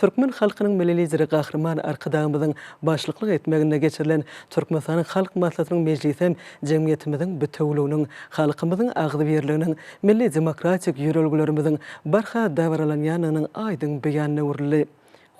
Türkmen halkynyň Milli Lideri Gahryman Arkadagymyzyň başlyklyk etmeginde geçirilen Türkmenistanyň Halk Maslahatynyň mejlisem jemgyýetimiziň bitewüliginiň, halkymyzyň agzybirliginiň, milli demokratik ýörelgelerimiziň barha dabaralanýandygynyň aýdyň beýanyna öwrüldi.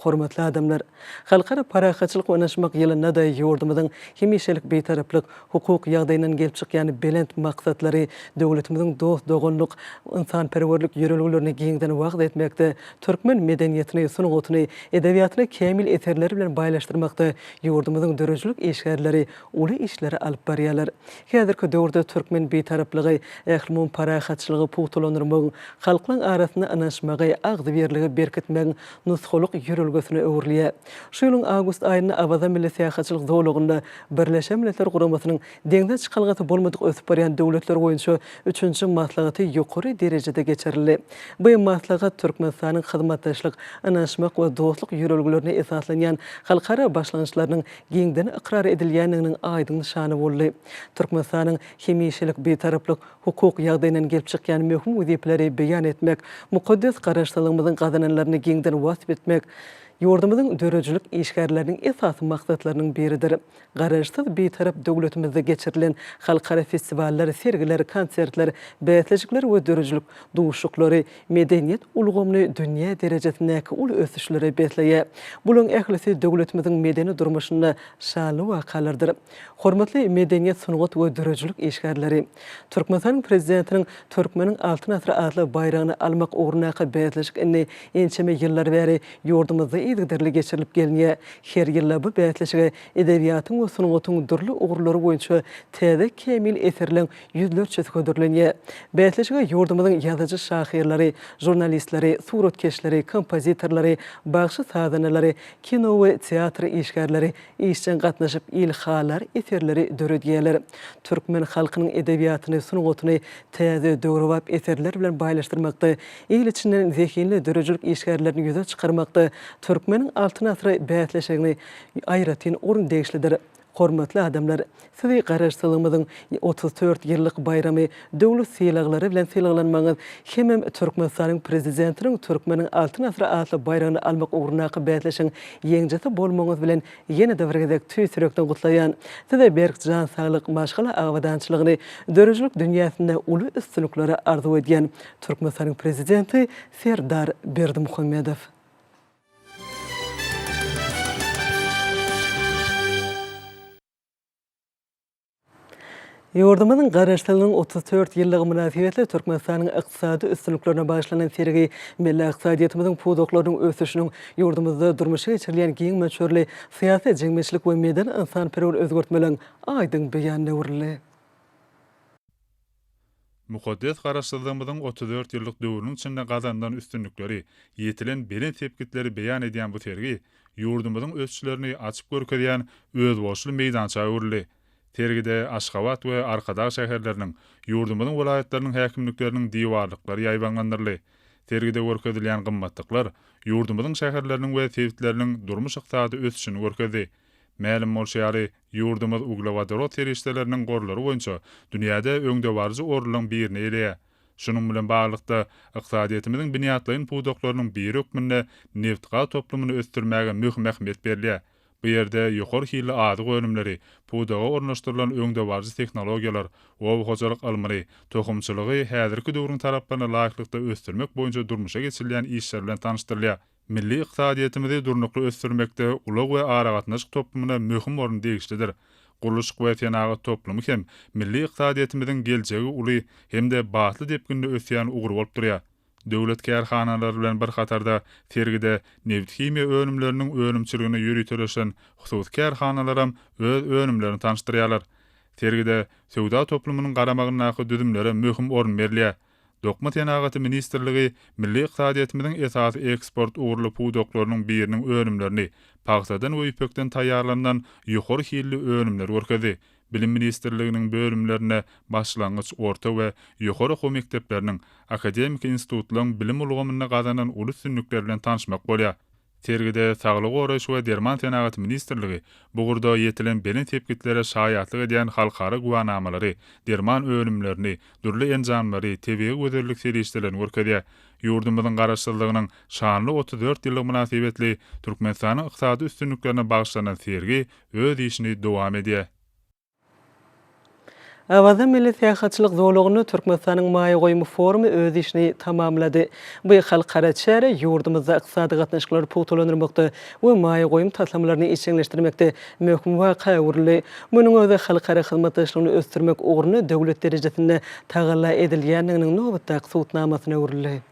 Hormatly adamlar! Halkara parahatçylyk we ynaşmak ýylynda-da ýurdumyzyň hemişelik Bitaraplyk hukuk ýagdaýyndan gelip çykýan belent maksatlary, döwletimiziň dost-doganlyk, ynsanperwerlik ýörelgelerini giňden wagyz etmekde, türkmen medeniýetini, sungatyny, edebiýatyny kämil eserler bilen baýlaşdyrmakda ýurdumyzyň döredijilik işgärleri uly işleri alyp barýarlar. Häzirki döwürde türkmen Bitaraplygy, ählumumy parahatçylygy pugtalandyrmagyň, halklaryň arasynda ynanyşmagy, agzybirligi berkitmegiň nusgalyk ýörelgesine öwrülýär. Şu ýylyň awgust aýynda Awaza milli syýahatçylyk zolagynda Birleşen Milletler Guramasynyň Deňze çykalgasy bolmadyk ösüp barýan döwletler boýunça üçünji maslahaty ýokary derejede geçirildi. Bu maslahat Türkmenistanyň hyzmatdaşlyk, ynanyşmak we dostluk ýörelgelerine esaslanýan halkara başlangyçlarynyň giňden ykrar edilýändiginiň aýdyň nyşany boldy. Türkmenistanyň hemişelik Bitaraplyk hukuk ýagdaýyndan gelip çykýan möhüm wezipeleri beýan etmek, mukaddes Garaşsyzlygymyzyň gazananlaryny giňden wasp etmek, Ýurdumyzyň döredijilik işgärleriniň esasy maksatlarynyň biridir. Garaşsyz Bitarap döwletimizde geçirilen halkara festiwallar, sergiler, konsertler, bäsleşikler we döredijilik duşuşyklary medeniýet ulgamyny dünýä derejesindäki uly ösüşlere besleýär. Bularyň ählisi döwletimiziň medeni durmuşynda şanly wakalardyr. Hormatly medeniýet, sungat we döredijilik işgärleri! Türkmenistanyň Prezidentiniň Türkmeniň Altyn asyry atly baýragyny almak ugrundaky bäsleşik indi ençeme ýyllar bäri ýurdumyzda yzygiderli geçirilip gelinýär. Her ýyl-da bu bäsleşige edebiýatyň we sungatyň dürli ugurlary boýunça täze kämil eserleň ýüzlerçesi hödürlenýär. Bäsleşige ýurdumyzyň ýazyjy-şahyrlary, žurnalistleri, suratkeşleri, kompozitorlary, bagşy-sazandalary, kino we teatr işgärleri işjeň gatnaşyp, ilhalar eserleri döredýärler. Türkmen halkynyň edebiýatyny, sungatyny täze, döwrebap eserler bilen baýlaşdyrmakda, il içinden zehinli döredijilik işgärlerini ýüze çykarmakda Türkmeniň Altyn asyry bäsleşigine aýratyn orun degişlidir. Hormatly adamlar! Sizi Garaşsyzlygymyzyň otuz dört ýyllyk baýramy döwlet sylaglary bilen sylaglanmagyňyz hemem Türkmenistanyň Prezidentiniň Türkmeniň Altyn asyry atly baýragyny almak ugrundaky bäsleşigiň ýeňjisi bolmagyňyz bilen ýene-de bir gezek tüýs ýürekden gutlaýan. Size berk jan saglyk, maşgala abadançylygyny, döredijilik dünýäsinde uly üstünlikleri arzuw edýän Türkmenistanyň Prezidenti Serdar Berdimuhamedow. Ýurdumyzyň Garaşsyzlygynyň otuz dört ýyllygy mynasybetli Türkmenistanyň ykdysady üstünliklerine bagyşlanan sergi milli ykdysadyýetimiziň pudaklarynyň ösüşiniň, ýurdumyzda durmuşa geçirilýän giň möçberli syýasy-jemgyýetçilik we medeni-ynsanperwer özgertmeleriň aýdyň beýanyna öwrüldi. Mukaddes Garaşsyzlygymyzyň otuz dört ýyllyk döwrüniň içinde gazanylan üstünlikleri, ýetilen belent sepgitleri beýan edýän bu sergi ýurdumyzyň ösüşlerini açyp görkezýän özboluşly meýdança öwrüldi. Sergide Aşgabat we Arkadag şäherleriniň, ýurdumyzyň welaýatlarynyň häkimlikleriniň diwarlyklary ýaýbaňlandyryldy. Sergide görkezilýän gymmatlyklar ýurdumyzyň şäherleriniň we sebitleriniň durmuş-ykdysady ösüşini görkezdi. Mälim bolşy ýaly, Ýurdumyz uglewodorod serişdeleriniň gorlary boýunça dünýäde öňdebaryjy orunlaryň birini eýeleýär. Şunuň bilen baglylykda, ykdysadyýetimiziň binýatlaýyn pudaklarynyň biri hökmünde nebtgaz toplumyny ösdürmäge möhüm ähmiýet berilýär. Bu ýerde ýokary hilli azyk önümleri, pudaga ornaşdyrylan öňdebaryjy tehnologiýalar, oba hojalyk ylmyny, tohumçylygy häzirki döwrüň talaplaryna laýyklykda ösdürmek boýunça durmuşa geçirilýän işler bilen tanyşdyrylýar. Milli ykdysadyýetimizi durnukly ösdürmekde ulag we aragatnaşyk toplumyna möhüm orun degişlidir. Gurluşyk we senagat toplumy hem milli ykdysadyýetimiziň geljegi uly hem-de batly depginde ösýän ugur bolup durýar. Döwlet kärhanalary bilen bir hatarda sergide nebithimiýa önümleriniň önümçiligine ýöriteleşen hususy kärhanalaram öz önümlerini tanyşdyrýarlar. Sergide söwda toplumynyň garamagyndaky düzümlere möhüm orun berilýär. Dokma senagaty ministrligi milli ykdysadyýetimiziň esasy eksport ugurly pudaklarynyň biriniň önümlerini, pagtadan we ýüpekden taýýarlanylan ýokary hilli önümleri görkezdi. Bilim ministrliginiň bölümlerine başlangyç, orta we ýokary okuw mekdepleriniň, akademiki institutlaryň bilim ulgamynda gazanan uly üstünlikler bilen tanyşmak bolýar. Sergide Saglygy goraýyş we derman senagaty ministrligi bu ugurda ýetilen belent sepgitlere şaýatlyk edýän halkara güwänamalary, derman önümlerini, dürli enjamlary, tebigy gözellik serişdelerini görkezýär. Ýurdumyzyň Garaşsyzlygynyň şanly otuz dört ýyllygy mynasybetli Türkmenistanyň ykdysady üstünliklerine bagyşlanan sergi öz işini dowam edýär. Awaza milli syýahatçylyk zolagynda Türkmenistanyň maýa goýum forumy öz işini tamamlady. Bu halkara çäre ýurdumyzda ykdysady gatnaşyklary pugtalandyrmakda we maýa goýum taslamalaryny işjeňleşdirmekde möhüm waka öwrüldi. Munuň özi halkara hyzmatdaşlygyny ösdürmek ugrunda döwlet derejesinde tagalla edilýändiginiň nobatdaky subutnamasyna öwrüldi.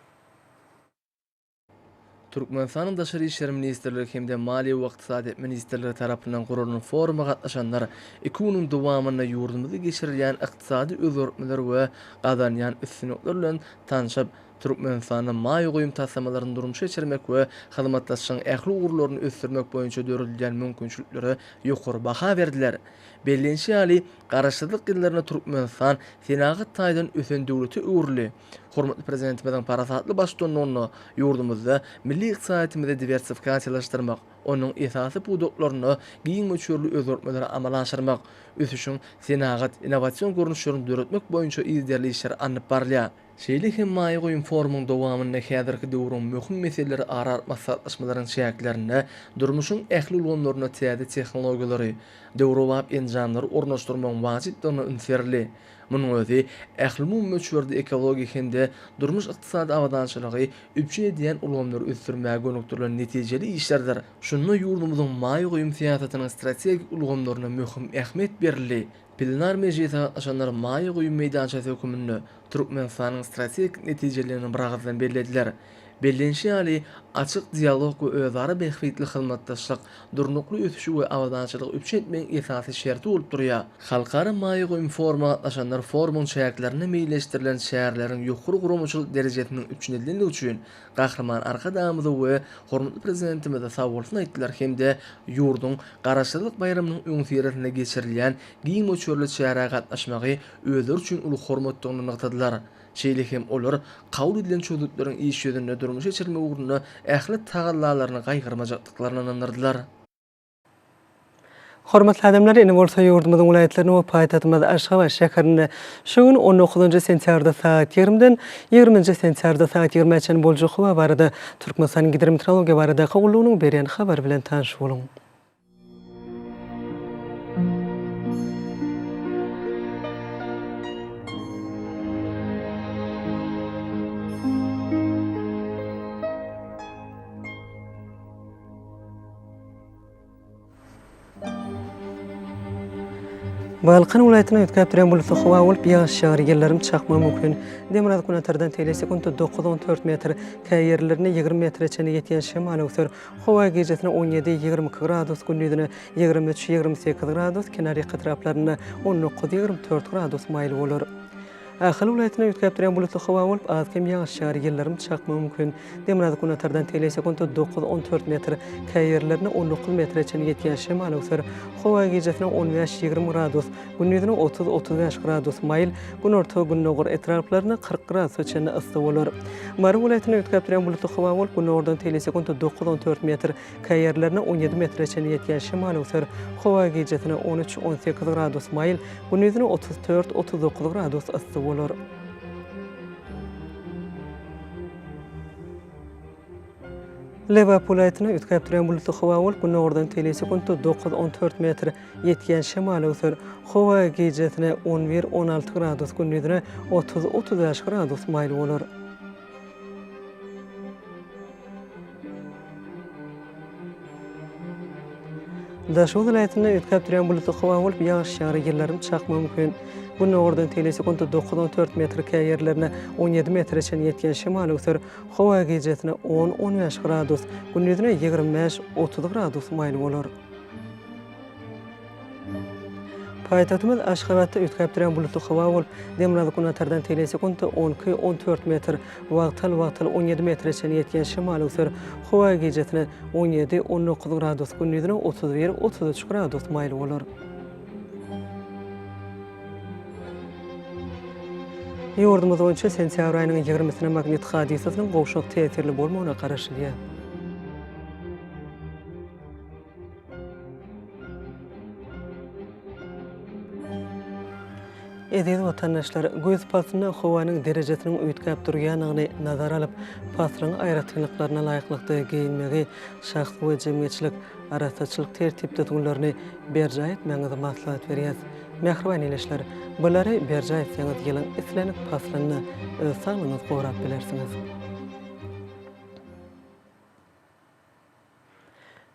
Türkmenistanyň Daşary işler ministrligi hem-de Maliýe we ykdysadyýet ministrligi tarapyndan guralan foruma gatnaşanlar iki günüň dowamynda ýurdumyzda geçirilýän ykdysady özgertmeler we gazanýan üstünlikler bilen tanşyp, Türkmenistanda maýa goýum taslamalaryny durmuşa geçirmek we hyzmatdaşlygyň ähli ugurlaryny ösdürmek boýunça döredilýän mümkinçiliklere ýokary baha berdiler. Bellenişi ýaly, Garaşsyzlyk ýyllarynda Türkmenistan senagat taýdan ösen döwlete öwrüldi. Hormatly Prezidentimiziň parasatly baştutanlygynda ýurdumyzda milli ykdysadyýetimizi diwersifikasiýalaşdyrmak, onuň esasy pudaklarynda giň möçberli özgertmeleri amala aşyrmak, ösüşiň senagat, innowasion görnüşlerini döretmek boýunça yzderli işler alnyp barylýar. Şeýle hem maýa goýum forumyň dowamynda häzirki döwrüň möhüm meseleleri ara alyp maslahatlaşmalaryň çäklerinde durmuşyň ähli ulgamlarynda täze tehnologiýalary, döwrebap enjamlary ornaşdyrmagyň wajypdygyna üns berildi. Munuň özi ählumumy möçberde ekologik hem-de durmuş-ykdysady abadançylygy üpjün edýän ulgamlary ösdürmäge gönükdirilen netijeli işlerdir. Şunda ýurdumyzyň maýa goýum syýasatynyň strategik ulgamlaryna möhüm ähmiýet berildi. Plenar mejlise gatnaşanlar maýa goýum meýdançasy höküminde Türkmenistanyň strategik netijeliligini biragyzdan bellediler. Bellenişi ýaly, açyk dialog we özara bähbitli hyzmatdaşlyk durnukly ösüşi we abadançylygy üpjün etmegiň esasy şerti bolup durýar. Halkara maýa goýum foruma gatnaşanlar forumyň çäklerinde meýilleşdirilen çäreleriň ýokary guramaçylyk derejesiniň üpjün edilendigi üçin Gahryman Arkadagymyza we hormatly Prezidentimize sag bolsun aýtdylar hem-de ýurduň Garaşsyzlyk baýramynyň öňüsyrasynda geçirilýän giň möçberli çärä gatnaşmagy özleri üçin uly hormatdygyny nygtadylar. Şeýle hem olar kabul edilen çözgütleriň iş ýüzünde durmuşa geçirilmegi ugrunda ähli tagallalaryny gaýgyrmajakdyklaryna ynandyrdylar. Hormatly adamlar, indi bolsa ýurdumyzyň welaýatlarynda we paýtagtymyz Aşgabat şäherinde şu gün on dokuzynjy sentýabrda sagat ýigrimiden ýigrimi nji sentýabrda sagat ýigrimä çenli boljak howa barada Türkmenistanyň Gidrometeorologiýa baradaky gullugynyň berýän habary bilen tanyş boluň. Balkan welaýatyna üýtgäp duran bulutly howa bolup, ýagyş ýagar, ýyldyrym çakmagy mümkin. Demirgazyk günortadan tegelek sekuntda dokuz-on dört metr, käýerlerinde ýigrimi metre çenli ýetýän şemal öwser. Howa gijesine on ýedi, ýigrimi iki gradus, gündizine ýigrimi üç, ýigrimi sekiz gradus, kenarýaka etraplarynda on dokuz, ýigrimi dört gradus maýyl bolar. Ahal welaýatynda üýtgäp durýan bulutly howa bolup, az-kem ýagyş ýagar, ýyldyrym çakmagy mümkin. Demirgazyk-günbatardan tele sekunta dokuz-on dört metr, käýerlerinde on dokuz metre çenli ýetýän şemal öwser. Howa gijesine on bäş, ýigrimi gradus, Gündiziniň otuz, otuz bäş gradus maýyl, günorta, gündogar etraplarynda kyrk gradusa çenli yssy bolar. Mary welaýatynda üýtgäp durýan bulutly howa bolup, günordan teýli sekuntda dokuz, on dört metr, käý ýerlerinde on ýedi metre çenli ýetýän şemal öwser. Howa gijasine on üç, on sekiz gradus maýyl, gündiziniň otuz dört, otuz dokuz gradus yssy bolar. Lebap welaýatyna üýtgäp durýan bulutly howa bolup, günordan teýle sekuntda dokuz-on dört metr ýetýän şemal öwser. Howa gijesine on bir-on alty gradus, gündizine otuz-otuz bäş gradus maýyl bolar. Daşoguz welaýatynda üýtgäp durýan bulutly howa bolup, ýagyş ýagar, ýyldyrym çakmagy mümkin. Günordan teýle sekuntda dokuz-on dört metr, käýerlerine on ýedi metre çenli ýetýän şemal öwser. Howa gijesine on-on bäş gradus, gündizine ýigrimi bäş, otuz gradus maýyl bolar. Paýtagtymyz Aşgabatda üýtgäpdirän bulutly howa bolup, demirgazyk günatardan teýleý sekuntda on iki-on dört metr, wagtal-wagtal on ýedi metre çenli ýetýän şemal öwser. Howa gijesine on ýedi-on dokuz gradus, gündizine otuz bir-otuz üç gradus maýyl bolar. Ýurdumyz boýunça sentýabr aýynyň ýigrimisine magnit hadysasynyň gowşak täsirli bolmagyna garaşylýar. Eziz watandaşlar, güýz paslynda howanyň derejesiniň üýtgäp durýanyny nazara alyp, paslyň aýratynlyklaryna laýyklykda geýinmegi, şahsy we jemgyýetçilik arassaçylyk tertip-düzgünlerini berjaý etmegiňizi maslahat berýäs. Mähriban ildeşler, bulary berjaý etseňiz ýylyň islendik paslynda öz saglygyňyzy gorap bilersiňiz.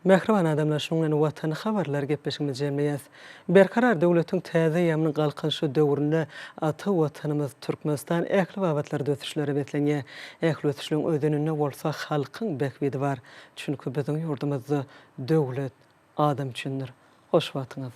Mähriban adamlar şunuň bilen Watany habarlary gepleşigimizi jemleýäs. Berkarar döwletiň täze eýýamynyň Galkynyşy döwründe ata Watanymyz Türkmenistan ähli babatlarda ösüşlere beslenýär. Ähli ösüşleriň özeninde bolsa halkyň bähbidi bar. Çünki biziň ýurdumyzda döwlet adam üçindir. Hoş wagtyňyz.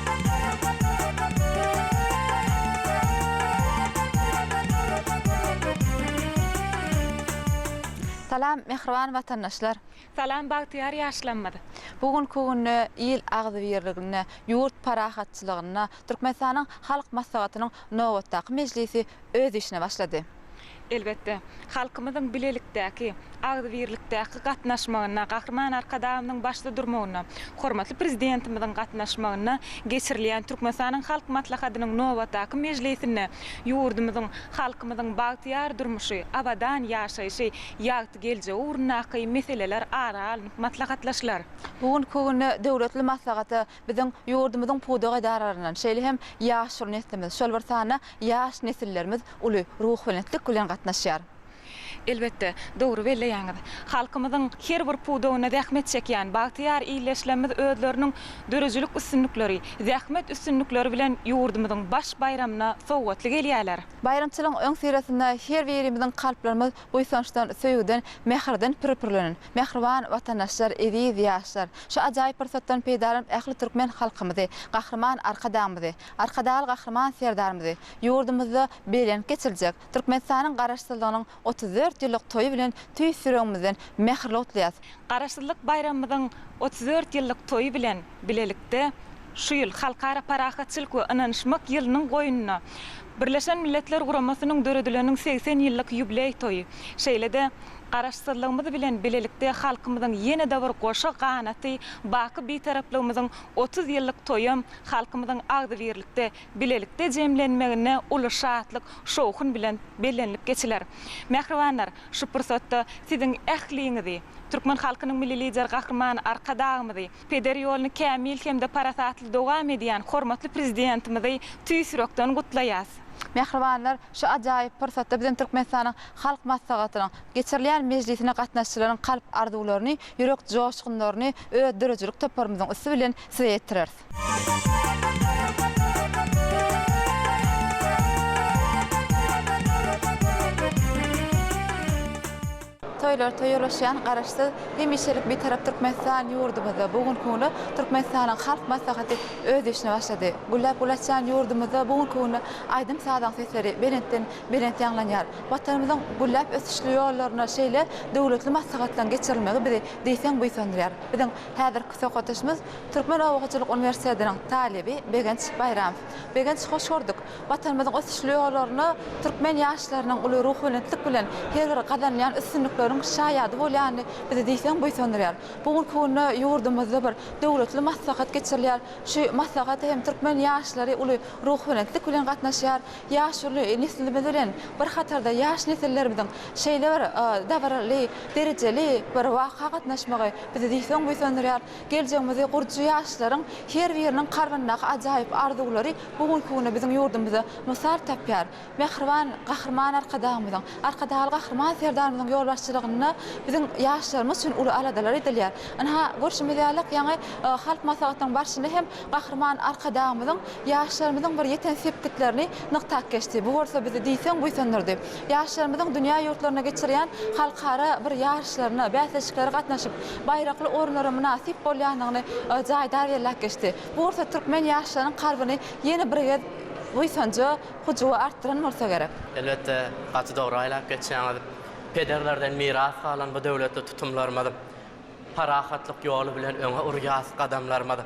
Salam, mähriban watandaşlar! Salam, bagtyýar ýaşlamyz! Bu günki günde il agzybirliginde, ýurt parahatçylygynda Türkmenistanyň Halk Maslahatynyň nobatdaky mejlisi öz işine başlady. Elbetde, halkymyzyň bilelikdäki, agzybirlikdäki gatnaşmagynda, Gahryman Arkadagymyzyň başda durmagynda, hormatly Prezidentimiziň gatnaşmagynda geçirilýän Türkmenistanyň Halk Maslahatynyň nobatdaky mejlisinde ýurdumyzyň, halkymyzyň bagtyýar durmuşy, abadan ýaşaýşy, ýagty geljegi ugrundaky meseleler ara alnyp maslahatlaşylar. Bu günki günde döwletli maslahata Biziň ýurdumyzyň pudak edaralaryndan, şeýle hem ýaşuly neslimiz, şol bir sanda ýaş nesillerimiz uly ruhubelentlik bilen gatnaşýar. Elbetde, dogry belleýäňiz. Halkymyzyň her bir pudagynda zähmet çekýän bagtyýar illeşlemimiz özleriniň döredijilik üstünlikleri, zähmet üstünlikleri bilen ýurdumyzyň baş baýramyna sowgatly gelýärler. Baýramçylygyň öňüsyrasynda her birimiziň kalplarymyz Buýsançdan, söýgüden, mähirden pir-pirlenen, mähriban Watandaşlar, eziz ýaşlar! Şu ajaýyp pursatdan peýdalanyp ähli türkmen halkymyzy, Gahryman Arkadagymyzy, Arkadagly Gahryman Serdarymyzy ýurdumyzda belent geçiriljek Türkmenistanyň Garaşsyzlygynyň otuz dört ýyllyk toýy bilen tüýs ýüregimizden mähirli gutlaýas. Garaşsyzlyk baýramymyzyň otuz dört ýyllyk toýy bilen bilelikde şu ýyl Halkara parahatçylyk we ynanyşmak ýylynyň goýnuna Birleşen Milletler Guramasynyň döredileniň segsen ýyllyk ýubileý toýy, şeýle-de Garaşsyzlygymyz bilen bilelikde halkymyzyň ýene-de bir goşa ganaty baky Bitaraplygymyzyň otuz ýyllyk toýam halkymyzyň agzybirlikde bilelikde jemlenmeginde uly şatlyk, şowhun bilen bellenilip geçiler. Mähribanlar, şu pursatda Siziň ähliňizi, türkmen halkynyň Milli Lideri Gahryman Arkadagymyzy, peder ýoluny kämil hem-de parasatly dowam edýän hormatly Prezidentimizi tüýs ýürekden gutlaýas. Mähribanlar, şu ajaýyp pursatda biziň Türkmenistanyň Halk Maslahatynyň geçirilýän mejlisine gatnaşyjylaryň kalp arzuwlaryny, ýürek joşgunlaryny öz döredijilik toparymyzyň üsti bilen Size ýetireris. Toýlar toýuryşýan Garaşsyz, hemişelik Bitarap Türkmenistan ýurdumyzda bu günki günde Türkmenistanyň Halk Maslahaty öz işine başlady. Gülläp gül açýan ýurdumyzda bu günki günde aýdym-sazyň sesleri belentden belent ýaňlanýar. Watanymyzyň gülläp ösüşli ýollarynda şeýle döwletli maslahatlaryň geçirilmegi bizi diýseň buýsandyrýar. Biziň häzirki söhbetdeşimiz Türkmen obahojalyk uniwersitetiniň talyby Begenç Baýramow. Begenç, hoş gördük! Watanymyzyň ösüşli ýollaryna türkmen ýaşlarynyň uly ruhubelentlik bilen her bir gazanýan üstünlikleriň şaýady bolýany bizi diýseň buýsandyrýar. Bu günki günde ýurdumyzda bir döwletli maslahat geçirilýär. Şu maslahata hem türkmen ýaşlary uly ruhubelentlik bilen gatnaşýar. Ýaş neslimiz bilen bir hatarda ýaş nesillerimiziň şeýle bir dabaraly, derejeli bir waka gatnaşmagy bizi diýseň buýsandyrýar. Geljegimizi gurujy ýaşlaryň her biriniň kalbyndaky ajaýyp arzuwlary bu günki günde biziň ýurdumyzda mysal tapýar. Mähriban Gahryman Arkadagymyzyň, Arkadagly Gahryman Serdarymyzyň ýolbaşçylygynda biziň ýaşlarymyz üçin uly aladalar edilýär. Ynha, görşümiz ýaly, ýaňy Halk Maslahatynyň barşynda hem Gahryman Arkadagymyzyň ýaşlarymyzyň bir ýeten sepgitlerini nygtap geçdi. Bu bolsa bizi diýseň buýsandyrdy. Ýaşlarymyzyň dünýä ýurtlarynda geçirýän halkara bir ýaryşlaryna, bäsleşiklere gatnaşyp, baýrakly orunlara mynasyp bolýandygyny jaýdar belläp geçdi. Bu bolsa türkmen ýaşlarynyň kalbyny ýene bir gez buýsanja, hyjuwa artdyran bolsa gerek. Elbetde, gaty dogry aýlap geçýäňiz. Pederlerden miras galan bu döwletli tutumlarymyz, Parahatlyk ýoly bilen öňe urýas gadamlarymyz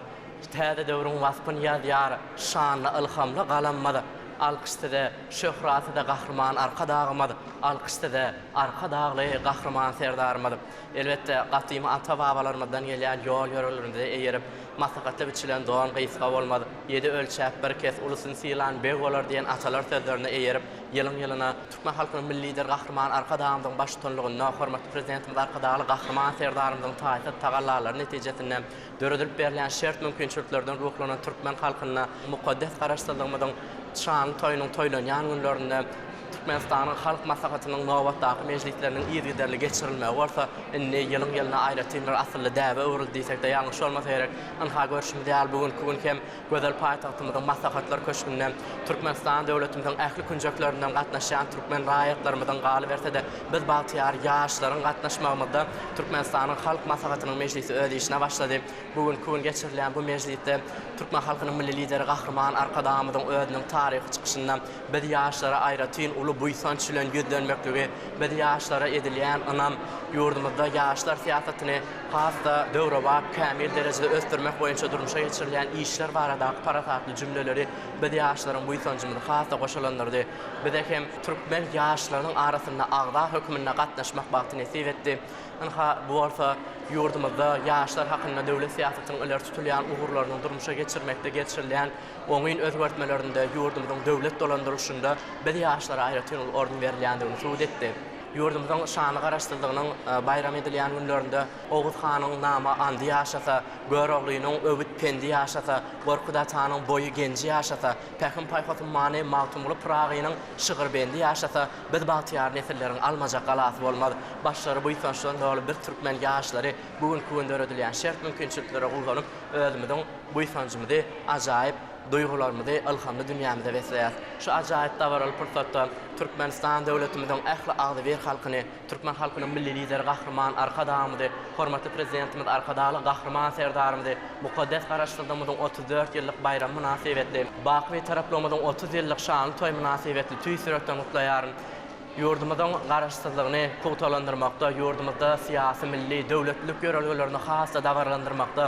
Täze döwrüň waspyn ýazýar şanly ylhamly galamymyz Alkyş size şöhrat size Gahryman Arkadagymyz Alkyş size Arkadagly Gahryman Serdarymyz Elbetde gadymy ata babalarymyzdan gelýän ýol ýörelgämize eýerip Maslahatda biçilen don gysga bolmaz Ýedi ölçäp bir kes ulusyny sylan beg bolar diýen atalar sözlerine eýerip ýylyň ýylyna Türkmen halkynyň Milli Lideri Gahryman Arkadagymyzyň baştutanlygynda hormatly Prezidentimiz Arkadagly Gahryman Serdarymyzyň taýsyz tagallalary netijesinde döredilip berilýän şert-mümkinçiliklerden ruhlanan türkmen halkynda mukaddes Garaşsyzlygymyzyň şanly toýunyň toýlanýan günlerinde Türkmenistanyň Halk Maslahatynyň nobatdaky mejlisleriniň yzygiderli geçirilmegi bolsa indi ýylyň-ýylyna aýratyn bir asylly däbe öwrüldi diýsek-de ýalňyş bolmasa gerek. Ynha, görşümiz ýaly, bu günki gün hem Gözel paýtagtymyzyň Maslahatlar köşgünde Türkmenistan döwletimiziň ähli künjeklerinden gatnaşýan türkmen raýatlarymyzyň, galyberse-de, biz bagtyýar ýaşlaryň gatnaşmagymyzda Türkmenistanyň Halk Maslahatynyň mejlisi öz işine başlady. Bu günki gün geçirilýän bu mejlisde türkmen halkynyň Milli Lideri Gahryman Arkadagymyzyň özüniň taryhy çykyşynda biz ýaşlara aýratyn uly buýsanç bilen ýüzlenmekligi, biz ýaşlara edilýän ynam, ýurdumyzda ýaşlar syýasatyny has-da döwrebap, kämil derejede ösdürmek boýunça durmuşa geçirilýän işler baradaky parasatly jümleleri biz ýaşlaryň buýsanjymyzy has-da goşalandyrdy. Bize hem türkmen ýaşlarynyň arasynda agza hökmünde gatnaşmak bagty nesip etdi. Ynha, bu bolsa ýurdumyzda ýaşlar hakynda döwlet syýasatynyň ileri tutulýan ugurlarynyň durmuşa geçirmekde geçirilýän oňyn özgertmelerinde, ýurdumyzyň döwlet dolandyrylyşynda biz ýaşlara aýratyn uly orun berilýändigini subut etdi. Ýurdumyzyň şanly Garaşsyzlygynyň baýram edilýän günlerinde Oguz hanyň nama andy ýaşasa, Göroglynyň öwüt-pendi ýaşasa, Gorkut atanyň boýy-genji ýaşasa, Pähim-paýhas ummany Magtymguly Pyragynyň şygyr-bendi ýaşasa, biz bagtyýar nesilleriň almajak galasy bolmaz. Başlary buýsançdan doly biz türkmen ýaşlary bu günki gün döredilýän şert-mümkinçiliklere guwanyp, özümiziň buýsanjymyzy ajaýyp duýgularymyzy ylhamly dünýämize besleýäs. Şu ajaýyp dabaraly pursatda Türkmenistan döwletimiziň ähli agzybir halkyny, türkmen halkynyň Milli Lideri Gahryman Arkadagymyzy, hormatly Prezidentimiz Arkadagly Gahryman Serdarymyzy mukaddes Garaşsyzlygymyzyň otuz dört ýyllyk baýramy mynasybetli, baky Bitaraplygymyzyň otuz ýyllyk şanly toýy mynasybetli tüýs ýürekden gutlaýaryn. Ýurdumyzyň Garaşsyzlygyny pugtalandyrmakda, ýurdumyzda syýasy, milli, döwletlilik ýörelgelerini has-da dabaralandyrmakda,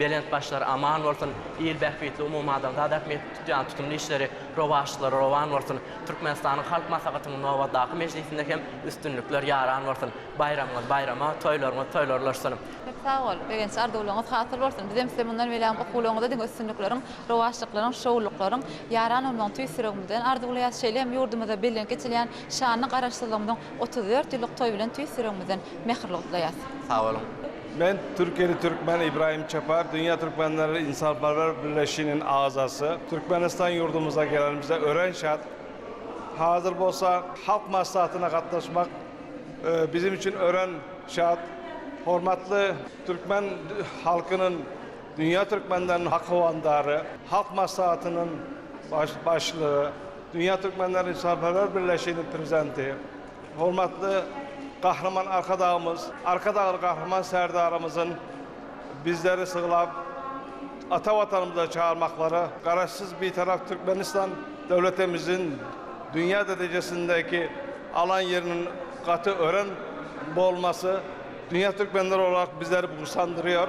Belent başlar aman bolsun, il bähbitli umumadamzat ähmiýetli tutýan tutumly işleri, rowaçlary rowan bolsun! Türkmenistanyň Halk Maslahatynyň nobatdaky mejlisinde hem üstünlikler ýaran bolsun! Baýramyňyz baýrama, toýlaryňyz toýlar ulaşsyn! Köp sag bol! Begenç arzuwlaryňyz hasyl bolsun! Bizem size mundan belän okuwlaryňyzda diňe üstünlikleriň, rowaçlyklaryň, şowlulyklaryň ýaran bolmagyny tüýs ýüregimizden arzuwlaýas. Şeýle hem ýurdumyzda bellenip geçilýän şanly Garaşsyzlygymyzyň otuz dört ýyllyk toýy bilen tüýs ýüregimizden mähirli gutlaýas. Sag boluň! Men türkiýeli türkmen Ibrahim Çapar, Dünýä Türkmenleri Ynsanperwer Birleşiginiň agzasy. Türkmenistan ýurdumyza gelenimize örän şat. Hazir bolsa Halk Maslahatyna gatnaşmak biziň üçin örän şat. Hormatly türkmen halkynyň, dünýä türkmenleriniň hak howandary, Halk Maslahatynyň Başlygy, Dünýä Türkmenleri Ynsanperwer Birleşiginiň Prezidenti Hormatly Gahryman Arkadagymyz, Arkadagly Gahryman Serdarymyzyň bizleri syglap, ata Watanymyza çagyrmaklary Garaşsyz, Bitarap Türkmenistan döwletimiziň dünýä derejesindäki alan ýeriniň gaty örän bolmasy, dünýä türkmenleri olarak bizleri buýsandyrýar.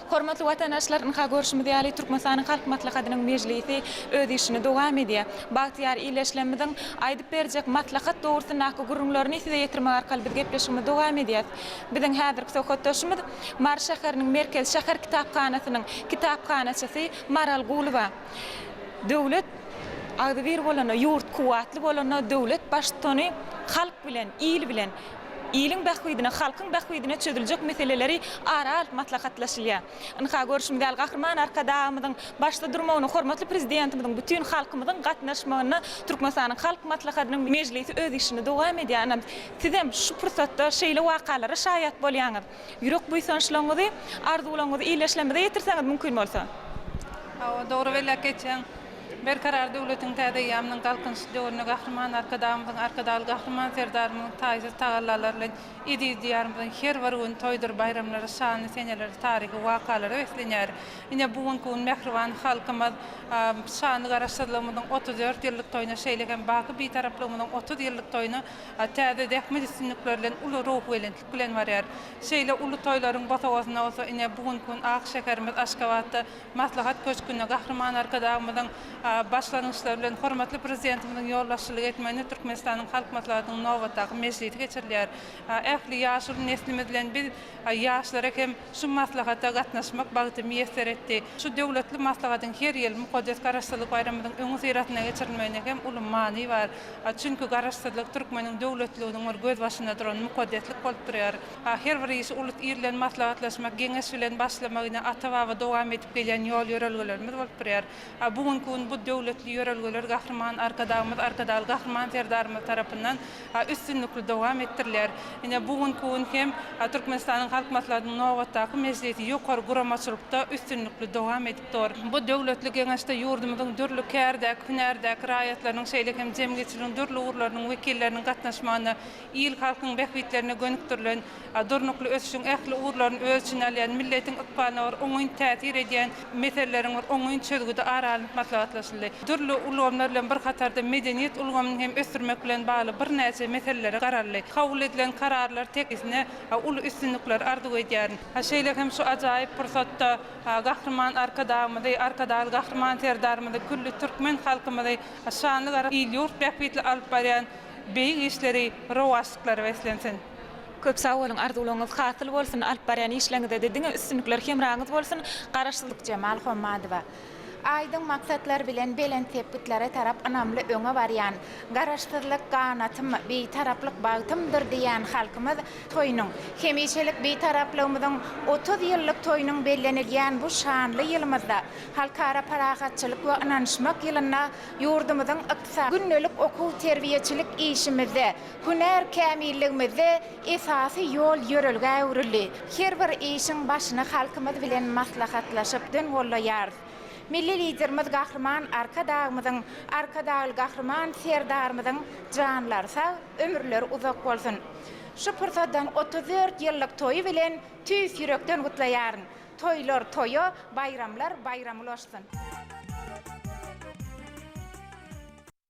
Hormatly watandaşlar, ynha görşümiz ýaly, Türkmenistanyň Halk Maslahatynyň mejlisi öz işini dowam edýär. Bagtyýar illeşlemiziň aýdyp berjek maslahat dogrusyndaky gürrüňlerini size ýetirmek arkaly biz gepleşigimizi dowam edýäs. Biziň häzirki söhbetdeşimiz Mary şäheriniň Merkezi şäher kitaphanasynyň kitaphanaçysy Maral Gulyba. Döwlet agzybir bolanda, ýurt kuwwatly bolanda döwlet baştutany halk bilen, il bilen, Iliň bähbidine, halkyň bähbidine çözüljek meseleleri ara alyp maslahatlaşylýar. Ynha, görşümiz ýaly, Gahryman Arkadagymyzyň başda durmagyna, hormatly Prezidentimiziň bütin halkymyzyň gatnaşmagynda Türkmenistanyň Halk Maslahatynyň mejlisi öz işini dowam edýär. Ynha, sizem şu pursatda şeýle wakalara şaýat bolýaňyz. Ýürek buýsançlaryňyzy, arzuwlaryňyzy illeşlemede ýetirseňiz mümkin bolsa. Hawa, dogry belläp geçýäň. Berkarar döwletiň täze eýýamynyň Galkynyş döwründe Gahryman Arkadagymyzyň, Arkadagly Gahryman Serdarymyzyň taýsyz tagallalary bilen eziz Diýarymyzyň her bir güni toýdur baýramlara, şanly senelere, taryhy wakalara beslenýär. Ine, bu günki gün mähriban halkymyz şanly Garaşsyzlygymyzyň otuz dört ýyllyk toýuna, şeýle hem baky Bitaraplygymyzyň otuz ýyllyk toýuna täze zähmet üstünlikleri bilen uly ruhubelentlik bilen barýar. Şeýle uly toýlaryň bosagasyna bolsa ine, bu günki gün ak şäherimiz Aşgabatda Maslahat köşgünde Gahryman Arkadagymyzyň başlangyçlary bilen hormatly Prezidentimiziň ýolbaşçylyk etmeginde Türkmenistanyň Halk Maslahatynyň nobatdaky mejlisi geçirilýär. Ähli ýaşuly neslimiz bilen biz ýaşlara hem. Şu maslahata gatnaşmak bagty miýesser etdi. Şu döwletli maslahatyň her ýyl mukaddes Garaşsyzlyk baýramymyzyň öňüsyrasynda geçirilmeginde hem uly many bar. Çünki Garaşsyzlyk türkmeniň döwletliliginiň bir gözbaşynda duran mukaddeslik bolup durýar. Her bir işi ulus il bilen maslahatlaşmak, geňeş bilen başlamak ine ata-baba dowam edip gelýän ýol-ýörelgelerimiz bolup durýar. Bu günki gün bu döwletli ýörelgeler Gahryman Arkadagymyz Arkadagly Gahryman Serdarymyz tarapyndan üstünlikli dowam etdiriler. Ine, bu günki gün hem Türkmenistanyň Halk Maslahatynyň nobatdaky mejlisi ýokary guramaçylykda üstünlikli dowam edip dur. Bu döwletli Geňeşde ýurdumyzyň dürli kärdäki, hünärdäki raýatlarynyň, şeýle hem jemgyýetçiligiň dürli ugurlarynyň wekilleriniň gatnaşmagynda il-halkyň bähbitlerine gönükdirilen Durnukly ösüşiň ähli ugurlaryny öz içine alýan, milletiň ykbalyna bir oňyn täsir edýän meseleleriň bir oňyn çözgüdi ara alnyp maslahatlaşyldy. Dürli ulgamlar bilen bir hatarda medeniýet ulgamyny hem ösdürmek bilen bagly birnäçe meselelere garaldy. Kabul edilen kararlar tekisine uly üstünlikler arzuw edýärin. Şeýle hem şu ajaýyp pursatda Gahryman Arkadagymyzy, Arkadagly Gahryman Serdarymyzy, külli türkmen halkymyzy şanly gara il-ýurt bähbitli alyp barýan beýik işleri rowaçlyklary beslensin! Köp sag boluň arzuwlaňyz hasyl bolsun alyp barýan işleňizede diňe üstünlikler hemraňyz bolsun Garaşsyzlyk Jemal Hommadowa. Aýdyň maksatlar bilen belent sepgitlere tarap ynamly öňe barýan, Garaşsyzlyk ganatym, Bitaraplyk bagtymdyr diýýän halkymyz toýunyň, hemişelik Bitaraplygymyzyň otuz ýyllyk toýunyň bellenilýän bu şanly ýylymyzda, Halkara parahatçylyk we ynanyşmak ýylynda ýurdumyzyň ykdysady, gündelik okuw-terbiýeçilik işimizde, Hünär kämilligimizde esasy ýol ýörelgä öwrüldi. Her bir işiň başyny halkymyz bilen maslahatlaşyp dön gollaýarys. Milli Liderimiz Gahryman Arkadagymyzyň, Arkadagly Gahryman Serdarymyzyň janlary sag, ömürleri uzak bolsun! Şu pursatdan otuz dört ýyllyk toýy bilen tüýs ýürekden gutlaýaryn! Toýlar toýa, baýramlar baýrama ulaşsyn!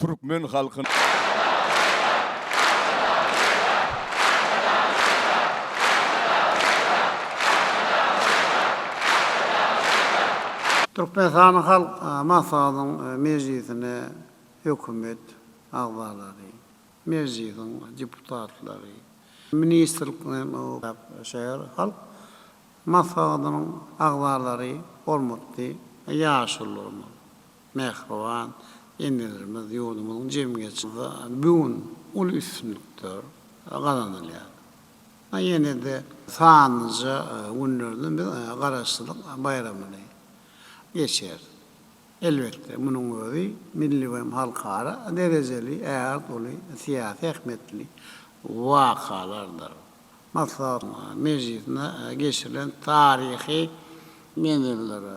Türkmen halkynyň. Türkmenistanyň Halk Maslahatynyň mejlisine Hökümet agzalary, Mejlisiň deputatlary, ministrlikleriň şäher Halk Maslahatynyň agzalary, hormatly ýaşulularymyz! Mähriban enelerimiz ýurdumyzyň jemgyýetçiliginde bu gün uly üstünlikler gazanylýar. Ýene-de sanlyja günlerde biz Garaşsyzlyk baýramyny geçiris. Elbetde, munuň özi milli we hem halkara derejeli ägirt uly syýasy ähmiýetli wakalardyr. Maslahat mejlisinde geçirilen taryhy menzelere,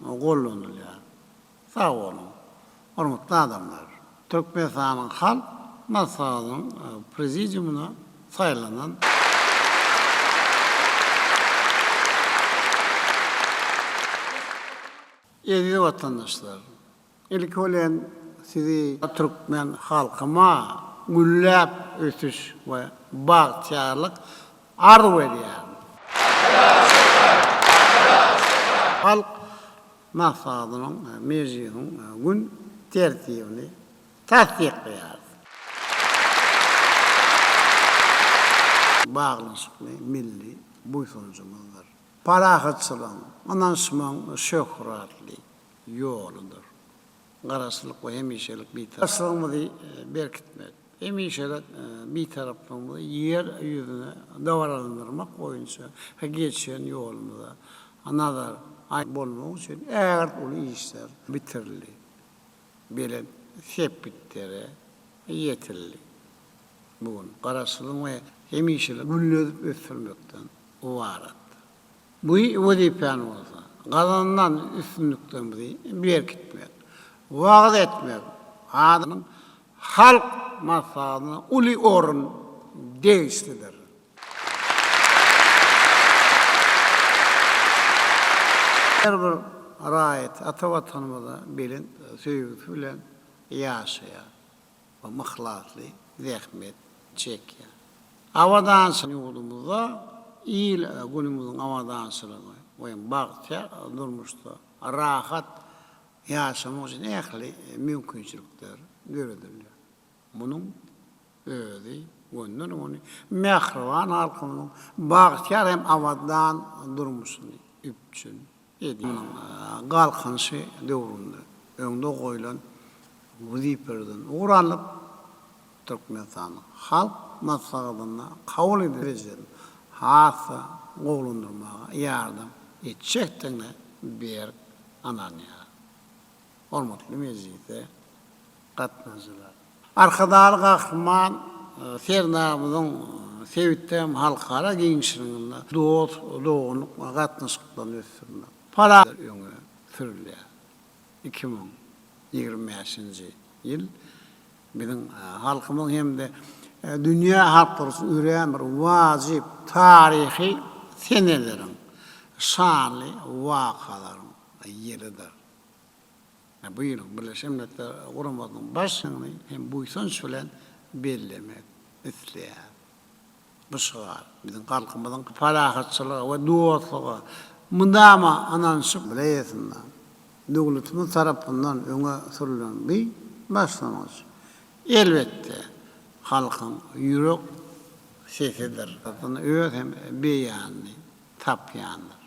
gollanylýar. Sag boluň, hormatly adamlar! Türkmenistanyň Halk Maslahatynyň Prezidiumyna saýlanan eziz watandaşlar! Ilki bilen sizi türkmen halkyma gülläp ösüş we bagtyýarlyk arzuw edýärin. Halk Maslahatynyň we Mejlisiň gün tertibini tassyklaýarys. Baglaşykly milli buýsanjymyzdyr. Parahatçylygyň, ynanyşmagyň şöhratly. ýoludyr. Garaşsyzlyk we hemişelik Bitaraplyk. Başlygymyzy berkitmek, hemişelik Bitaraplygymyzy Ýer ýüzüne dabaralandyrmak boýunça geçen ýolumyza nazar bolmagy üçin ägirt uly işler bitirildi, belent sepgitlere ýetildi. Bu gün Garaşsyzlygyň we hemişelik gülledip ösdürmekden ybaratdyr. Bu wezipäni bolsa gazanylan üstünliklerimizi berkitmek, wagyz etmek, adamyň halk maslahatyna uly orun degişlidir. Her bir raýat ata Watanymyza belent söýgüsi bilen ýaşaýar. we yhlasly zähmet çekýär. Abadançyl ýurdumyzda il-günümiziň abadançylygy we bagtyýar durmuşda rahat ýaşamak üçin ähli mümkinçilikler döredilýär. Munuň özi gönden-göni mähriban halkymyzyň bagtyýar hem abadan durmuşyny üpjün Egniniň galkynyşy döwründe öňde goýlan wezipelerden ugur alnyp, Türkmenistanyň Halk Maslahatynda kabul edilen ejeleri has-da gowulandyrmaga ýardam etjekdigine berk ynanýarys. Hormatly Mejlise Gatnaşyjylar. Arkadagly Gahryman Serdarymyzyň sebitde hem halkara giňişliginde dost-doganlyk gatnaşyklaryny ösdürmek, parahatçylyk öňe sürülýär. Iki müň ýigrimi bäşinji ýyl biziň halkymyz hem-de dünýä halklary üçin örän bir wajyp taryhy seneleriň, şanly wakalaryň ýylydyr. Bu ýylyň Birleşen Milletler Guramasynyň Baş ýygyny hem buýsanç bilen bellemek isleýäris. Bu şygar biziň halkymyzyň parahatçylyga we dostluga mydama ynanyşyp bileýesinden, döwletimiz tarapyndan öňe sürlen bu başlangyç, elbetde, halkyň ýürek sesidir. Öz hem beýanyny tapýandyr.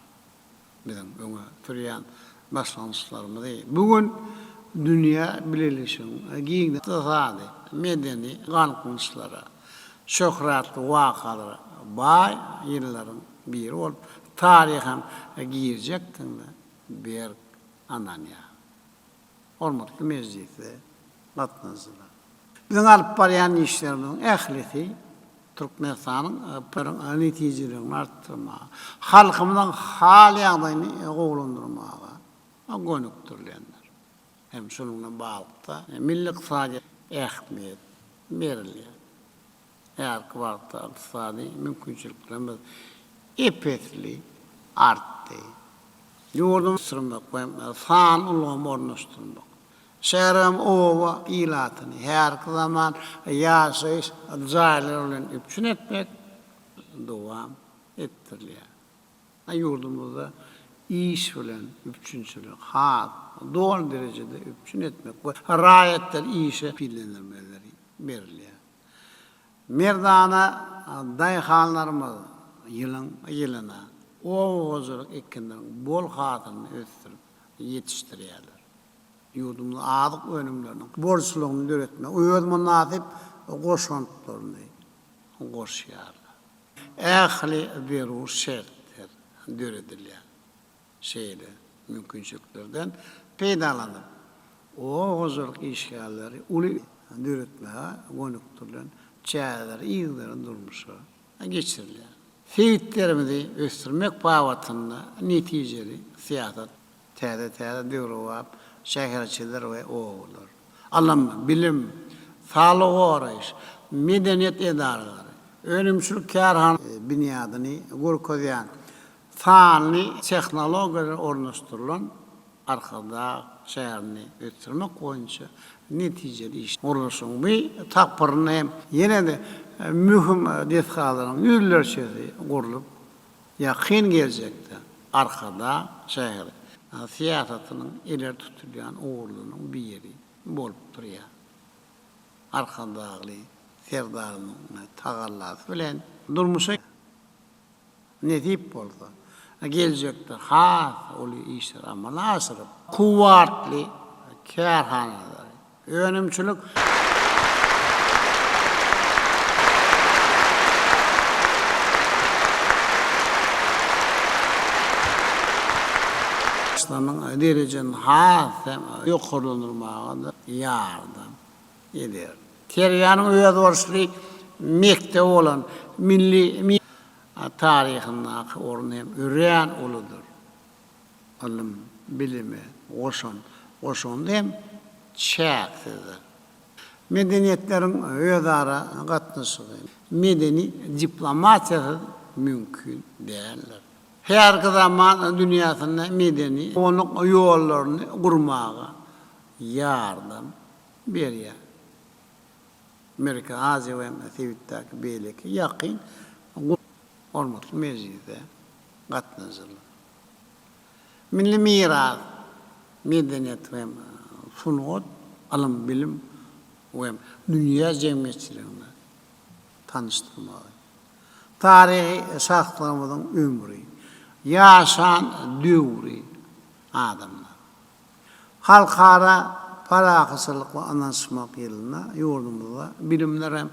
Biziň öňe sürýän başlangyçlarymyzy bu gün dünýä bileleşigiň giň ykdysady, medeni galkynyşlara, şöhratly wakalara baý ýyllaryň biri bolup taryha girjekdigine berk ynanýarys. Hormatly mejlise gatnaşyjylar! Biziň alyp barýan işlerimiziň ählisi Türkmenistanyň PRIň netijeligini artdyrmaga, halkymyzyň hal-ýagdaýyny gowulandyrmaga gönükdirilendir. Hem şunuň bilen baglylykda, milli ykdysadyýete ähmiýet berilýär. Häzirki wagtda ykdysady mümkinçiliklerimiz ep-esli artdy. Ýurduň ösdürmek we sanly ulgamy ornaşdyrmak, şäher hem oba ilatyny häzirki zaman ýaşaýyş jaýlary bilen üpjün etmek dowam etdirilýär. Ýurdumyzda iş bilen üpjünçiligi has doly derejede üpjün etmek we raýatlary işe pillelendirmeleri berilýär. Merdana daýhanlarymyz ýylyň ýylyna oba hojalyk ekinleriň bol hasylyny ösdürip ýetişdirýärler. Ýurdumyz azyk önümleriniň bolçulygyny döretmäge öz mynasyp goşantlaryny goşýarlar. Ähli zerur şertler döredilýär. Şeýle mümkinçiliklerden peýdalanyp, oba hojalyk işgärleri uly döretmäge gönükdirilen çäreleri yzygiderli durmuşa geçirilýär. Sebitlerimizi ösdürmek babatynda netijeli syýasat, täze-täze döwrebap şäherçeler we obalar, ylym, bilim, saglygy goraýyş, medeniýet edaralary, önümçilik kärhanalar binýadyny görkezýän Sanly tehnologiýalar ornaşdyrylan Arkadag şäherini ösdürmek boýunça netijeli iş. Gurluşyň bu tapgyrynda hem ýene-de möhüm desgalaryň ýüzlerçesi gurlup, ýakyn geljekde Arkadag şäheri syýasatynyň ileri tutulýan ugurlarynyň biri bolup durýar. Arkadagly Serdarymyzyň tagallasy bilen durmuşa. Nesip bolsa, geljekde has uly işleri amala aşyryp, kuwwatly kärhanalary, önümçilik derejesini has hem ýokarlandyrmaga-da ýardam. edýär. Kerýanyň özboluşly mekdebi bolan milli medeniýet taryhyndaky orny hem örän uludyr. Ylym, bilime goşan goşandy hem çäksizdir. Medeniýetleriň özara gatnaşygy, medeni diplomatiýasyz mümkin däldir. Häzirki zaman dünýäsinde medeni gonuk ýollaryny gurmaga ýardam berýär. Merkezi Aziýa we hem-de sebitdäki beýleki ýakyn hormatly mejlise gatnaşyjylar! Milli miras, medeniýet we hem sungat, ylym-bilim we hem dünýä jemgyýetçiligini tanyşdyrmagy, taryhy şahslarymyzyň ömri, ýaşan döwri, adamlar. Halkara parahatçylyk we ynanyşmak ýylynda ýurdumyzda Bilimler hem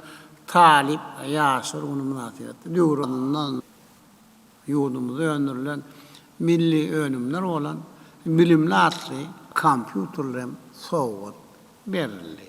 talyp ýaşlar güni mynasybetli döwranyndan ýurdumyzda öndürilen milli önümler bolan Bilimli atly kompýuterler hem sowgat berildi.